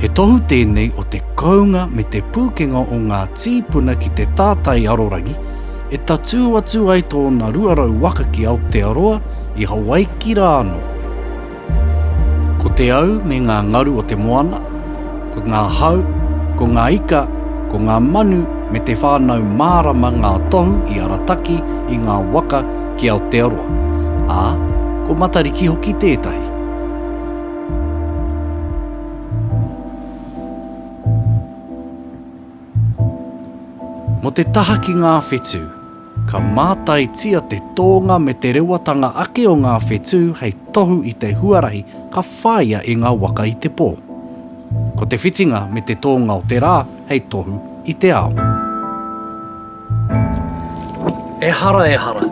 He tohu tēnei o te kounga me te pūkenga o ngā tīpuna ki te tātai arorangi, e tatū atu ai tōna 200 waka ki Aotearoa, i Hawaiki rā anō. Ko te au me ngā ngaru o te moana, ko ngā hau, ko ngā ika, ko ngā manu me te whānau mārama ngā tohu i arataki i ngā waka ki Aotearoa, ā, ko Matariki hoki tētahi. Mo te taha ki ngā whetū, ka mātaitia te tōnga me te rewatanga ake o ngā whetū hei tohu i te huarahi ka whāia e ngā waka i te pō. Ko te whitinga me te tōnga o te rā hei tohu i te ao. Ehara ehara,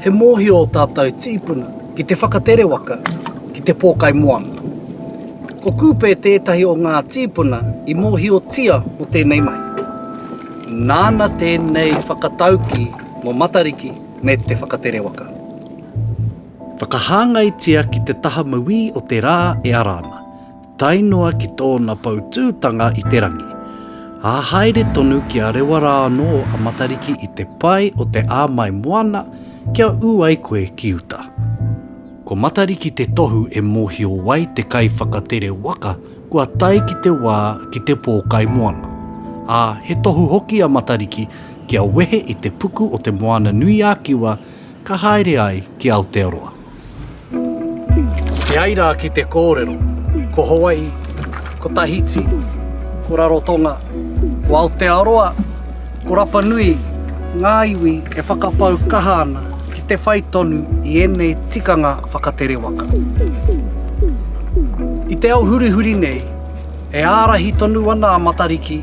he mōhio ō tātou tīpuna ki te whakatere waka ki te pōkai moana. Ko Kupe tētahi o ngā tīpuna i mōhiotia mō tēnei mahi. Nāna tēnei whakataukī mō Matariki me te whakatere waka. Whakahāngaitia ki te taha mauī o te rā e ara ana. tae noa ki tōna poutūtanga i te rangi, ā, haere tonu ki a rewa rā anō a Matariki i te pae o te āmai moana kia ū ai koe ki uta. Ko Matariki te tohu e mōhio ai te kaiwhakatere waka kua tae ki te wā ki te pōkai moana, ā, he tohu hoki a Matariki kia wehe i te puku o Te Moana-nui-ā-Kiwa Ka haere ai ki Aotearoa. E ai rā ki te kōrero, ko Hawai'i, ko Tahiti, ko Rarotonga, ko Aotearoa, ko Rapanui ngā iwi e whakapau kaha ana ki te whai tonu i ēnei tikanga whakatere waka. I te ao hurihuri nei, e ārahi tonu ana a Matariki